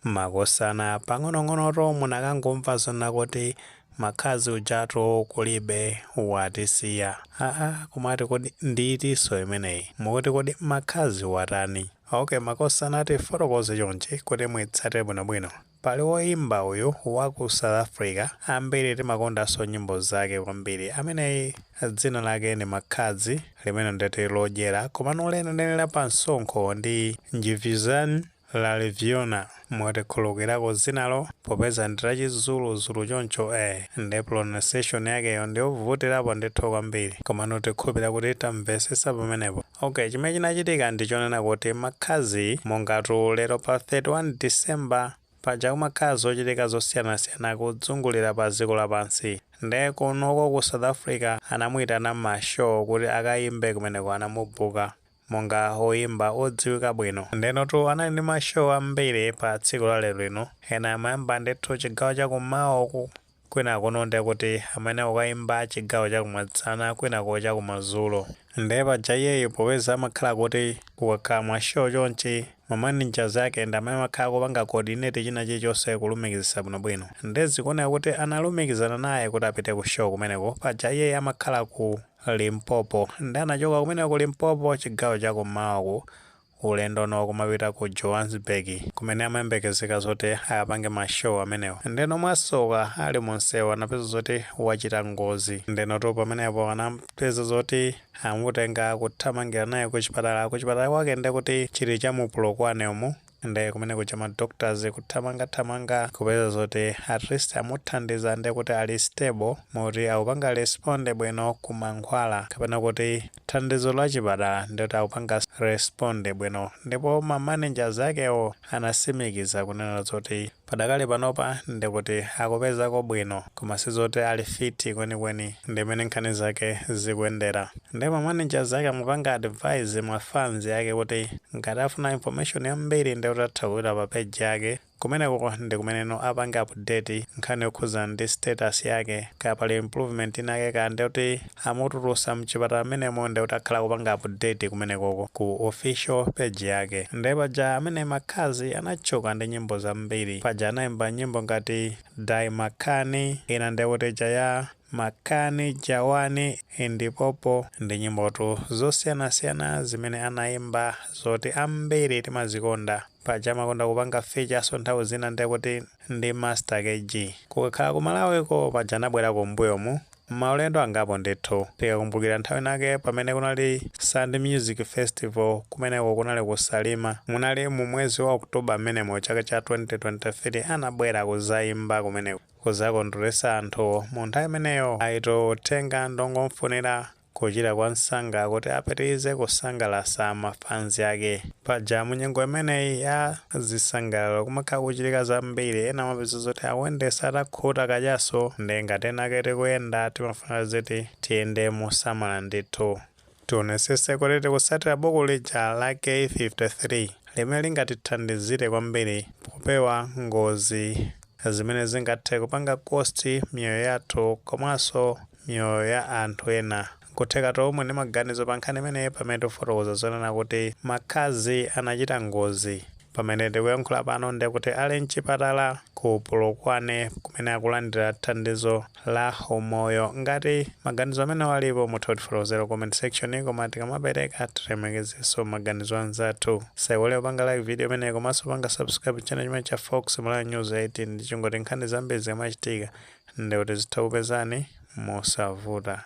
Makosana pang'onong'onoto munakangomva zonena kuti Makhadzi ujatu kulibe watisiya. Aaa kumati kodi ndiitinso imeneyi? Mukuti kodi Makhadzi watani? Ok makosana tifotokoze chonchi kuti muitsate bwinobwino. Pali woimba uyu wa ku South Africa ambiri timakondanso nyimbo zake kwambiri ameneyi dzina lake ndi Makhadzi limene ndeti lodyera komano lenileni la pamsonkho ndi Ndivhudzannyi Ralivhona, mutikhululukirako dzinalo popeza ndi la chi Zulu Zulu choncho eh nde pronunciation yakeyo ndiyovutirapo ndithu kwambiri komano tikhulupira kuti tamvesesa pamenepo. Ok chimene chinachitika ndi chonena kuti Makhadzi mongatu lero pa 31 December paja kumakhala zochitika zosiyanasiyana kudzungulira pa dziko lapansi nde kunoko ku South Africa anamuitana mma show kuti akayimbe kumeneko anamubooka monga oyimba odziwika bwino. Ndenotu anali ndi ma show ambiri pa tsiku la lero lino. Ena amayamba ndithu chigawo cha kummawa uku, kwinakuno ndiye kuti amayenera kukayimba chigawo cha kumasana kwinako cha kumadzulo. Ndiye paja iyeyu popeza amakhala kuti kukakhala ma show chonchi, ma managers ake ndi amene amakhala akupanga coordinate china chilichonse kulumikizitsa bwinobwino. Ndiye zikuoneka kuti analumikizana naye kuti apite ku show kumeneko, paja iyeyu amakhala ku. Limpopo. Nde anachoka kumeneko ku Limpopo chigawo cha kummawaku ulendo no kumapita ku Johannesburg kumene amayembekezeka zoti akapange ma show amenewo. Ndeno mwasoka ali mu nsewu anapeza zoti wachita ngozi. Ndenotu pamenepo anapeza zoti amutenga kuthamangira naye kuchipatala. Kuchipatala kwake ndekuti chili cha mu Polokwane umu. nde kumene kuja ma doctors kuthamanga thamanga kupeza zoti at least amuthandiza nde kuti ali stable moti akupanga respond bwino ku mankhwala kapena kuti thandizo la chipatala ndikuti akupanga respond bwino ndipo ma managers akewo anasimikiza kunena zoti Padakali panopa ndikuti akupezako bwino koma sizoti ali fit kwenikweni ndimene nkhani zake zikuyendera nde ma managers ake amupanga advise ma fans ake kuti ngati afuna information yambiri ndekuti atha kupita pa page yake kumeneko ndikumeneno apange update nkhani yokhuza ndi status yake kaya pali improvement inayake kaya ndekuti amutulusa mchipatala mmenemo nde kuti akhala akupanga update kumenekoko ku official page yake nde paja amene Makhadzi anatchuka ndi nyimbo zambiri paja anaimba nyimbo ngati dye makani ina nde kuti ija ya makani jawani ndipopo ndi nyimbotu zosiyanasiyana zimene anaimba zoti ambiri timazikonda paja amakonda kupanga feature-so nthawi zina nde kuti ndi Master KG kukakhala ku Malawiko paja anabwera kumbuyomu Maulendo angapo ndithu. Tikakumbukira nthawi inayake pamene kunali Sand Music Festival kumeneko kunali ku Salima. Munali mu mwezi wa October m'menemo chaka cha 2023 anabwera kuzaimba kumeneko kuzakondweresa anthu mu nthawi imeneyo aitu uthenga ndongomufunira kuchira kwa nsanga kuti apitilize kusangalasa ma fans ake. Paja mu nyengo imeneyi ya. Zisangalalo kumakhala kuchitika zambiri ena amapeza zoti akuyendesa atakhuta kachaso nde ngati ena ake tikuyenda timafuna zoti tiyende mosamala ndithu tionesese kuti tikusatira buku lija la k53 limene lingatithandizire kwambiri popewa ngozi zimene zingathe kupanga cost miyoyo yathu komanso miyoyo ya anthu ena Nkutheka to omwe ndi maganizo pa nkhani imeneyi pamene tikufotokoza zonena kuti Makhadzi anachita ngozi. Pamene tikuyankhula pano nde kuti ali mchipatala ku Polokwane kumene akulandira thandizo la umoyo. Ngati maganizo amenewo alipo mutha kutifotokozera ku comment section koma tikamapereka tilemekezenso maganizo anzathu. Osaiwala kupanga like video imeneyi komanso kupanga subscribe channel chimenechi cha Fox Malawi News 18 ndi chingoti nkhani zambiri zikamachitika nde kuti zitha kupezani mosavuta.